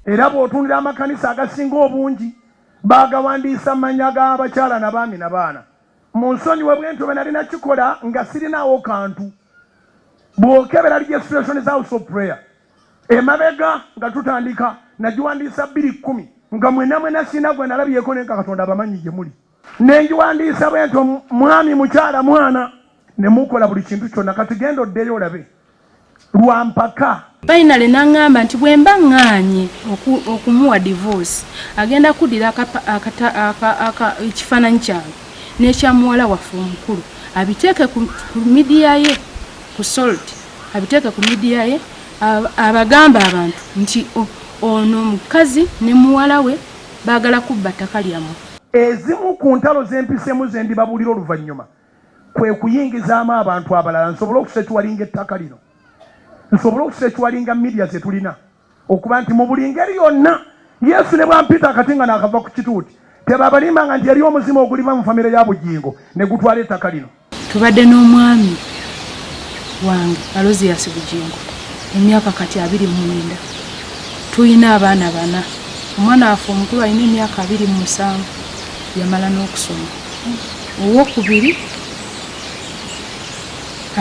era bw'otunira amakanisa agasinga obungi baagawandiisa mannya g'abakyala na baami na baana mu nsonyi we bwentyo bwe nalina kikola nga sirinaawo kantu bw'okebera registration za house of prayer Emabega nga tutandika nagiwandiisa bbiri kkumi nga mwena mwena sina gwe nalabyeko naye nga Katonda abamanyi gye muli ne ngiwandiisa bwento mwami mukyala mwana ne mukola buli kintu kyonna kati genda oddeyo olabe lwa mpaka. Finally nangamba nti bwe mba ŋŋaanye okumuwa divorce agenda kuddira ekifaananyi kyange n'ekya muwala waffe omukulu abiteeke ku midiya ye ku salt abiteeke ku midiya ye abagamba abantu nti ono mukazi ne muwala we baagala kubba ttaka lyammwe. Ezimu ku ntalo z'empiseemu ze ndibabuulira oluvannyuma kwe kuyingizaamu abantu abalala nsobole okusecwalinga ettaka lino, nsobole okusecwalinga midiya ze tulina. okuba nti mu buli ngeri yonna yesu ne bwampita akati nga naakava ku kituuti tebabalimbanga nti yali omuzimu oguliva mu famire ya bugingo ne gutwala ettaka lino tubadde n'omwami wange aloziyasi bugingo emyaka kati abiri mwenda tulina abaana bana omwana waffe omukulu alina emyaka abiri mu musanvu yamala n'okusoma owokubiri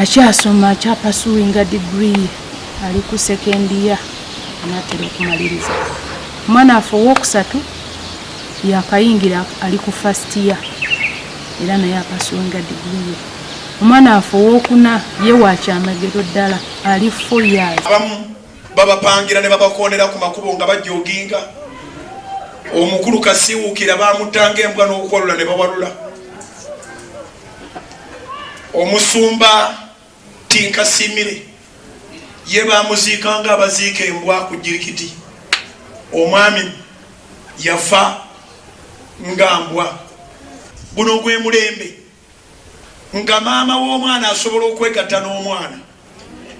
akyasoma akyapasuwinga digriye ali ku second year anatera okumaliriza omwana afe owokusatu yakayingira ali ku first year era naye apasuwenga digiriye omwana afe owokuna ye wakyamagero ddala ali fo years abamu babapangira ne babakoonera ku makubo nga bajooginga omukulu kasiwuukira bamutanga embwa n'okuwalula ne bawalula omusumba Tinka Simire ye bamuziika nga abaziika embwa ku jirikiti. Omwami yafa nga mbwa. Guno gwe mulembe nga maama w'omwana asobola okwegatta n'omwana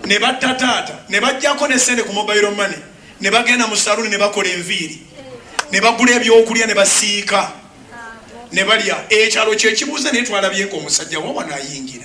ne batta taata ne bajjako ne sente ku mobile money ne bagenda mu saluuni ne bakola enviiri ne bagula ebyokulya ne basiika ne balya. Ekyalo kye kibuuza naye twalabyeko omusajja wawa nayingira.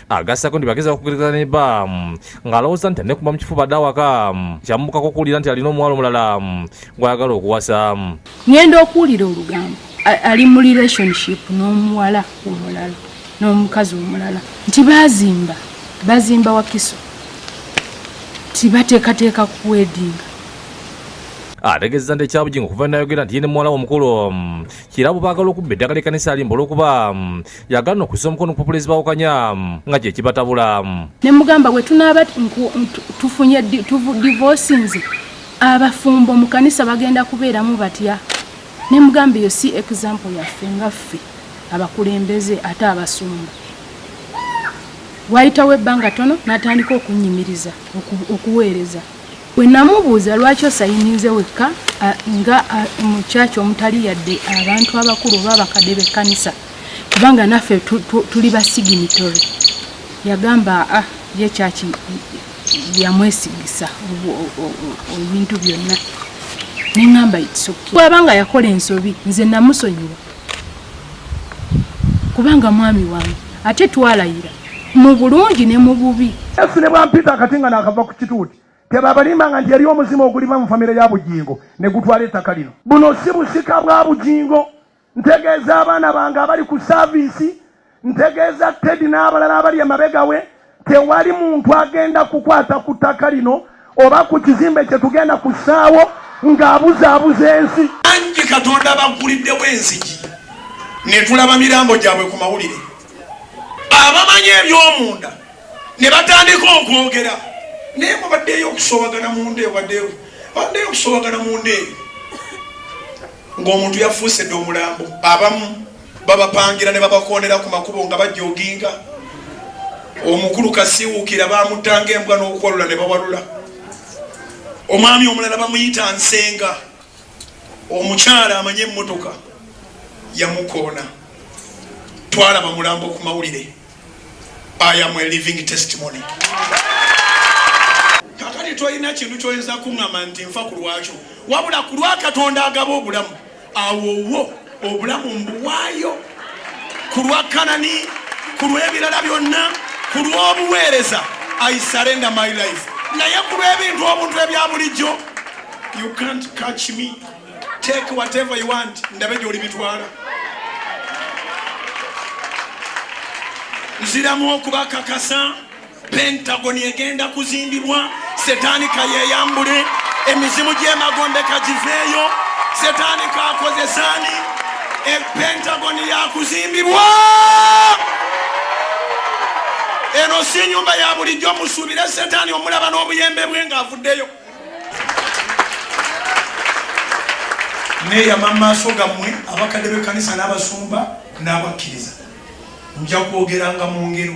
agassako nti bageza okugereza ne bba ng'alowooza nti ne kuba mu kifuba dda awaka kyamubukako okuwulira nti alina omuwala omulala gw'ayagala okuwasa ngenda okuwulira olugambo ali mu relationship n'omuwala omulala n'omukazi omulala nti bazimba bazimba wakiso nti bateekateeka kuwedinga ategeeza nti ekyabugingo okuva nayogera nti ye ne muwala womukulu mm, kirabo baagala okubba eddagala ekkanisa alimba olwokuba mm, yagana okussa omukono ku pulezi bawukanya nga kye kibatabula ne mugamba bwe tunaaba tufunye divorsinze abafumbo mu kanisa bagenda kubeeramu batya ne mugamba eyo si example yaffe nga ffe abakulembeze ate abasumba wayitawo ebbanga tono natandika okunyimiriza okuweereza Bwe namubuuza lwaki osayininze wekka nga mu kyaki omutali yadde abantu abakulu oba abakadde b'ekkanisa kubanga naffe tuli ba siginitore yagamba a ah, ye kyaki yamwesigisa ebintu byonna neŋamba itsoki bwaba nga yakola ensobi nze namusonyiwa kubanga mwami wange ate twalayira mu bulungi ne mu bubi yesu ne bwampita akati nga naakava ku kituuti tebabalimbanga nti yali omuzimu oguliva mu famire ya bugingo ne gutwala ettaka lino buno si busika bwa bugingo ntegeeza abaana bange abali ku saaviisi Ntegeeza Teddy n'abalala abali emabega we tewali muntu agenda kukwata ku ttaka lino oba ku kizimbe kye tugenda kussaawo ng'abuzaabuza ensi. Bangi Katonda bagguliddewo enzigi ne tulaba mirambo gyabwe ku mawulire, abamanyi eby'omunda ne batandika okwogera naye mubaddeyo okusobagana munda ewadewo baddeyo okusobagana munda eyo ng'omuntu yafuusedde omulambo abamu babapangira ne babakoonera ku makubo nga bajooginga omukulu kasiwuukira baamuttanga embwa n'okuwalula ne bawalula omwami omulala bamuyita nsenga omukyala amanye emmotoka yamukoona twalaba mulambo ku mawulire ayamu eliving testimony kakati tolina kintu kyoyinza kuŋama nti nfa ku lwakyo wabula ku lwa katonda agaba obulamu awo wo obulamu mbuwaayo ku lwa kanani ku lw'ebirala byonna ku lw'obuweereza i surrender my life naye ku lw'ebintu obuntu ebya bulijjo you can't catch me take whatever you want ndabe gyoli bitwala nziramu okubakakasa Pentagon egenda kuzimbibwa, setaani kayeyambule, emizimu gy'emagombe kagiveeyo, setaani kakozesaani, e Pentagon yakuzimbibwa. Eno si nyumba ya bulijjo, musuubire setaani omulaba n'obuyembe bwe ng'avuddeyo. neeyama mu maaso gammwe abakadde b'ekkanisa n'abasumba n'abakkiriza nja kwogeranga mu ngero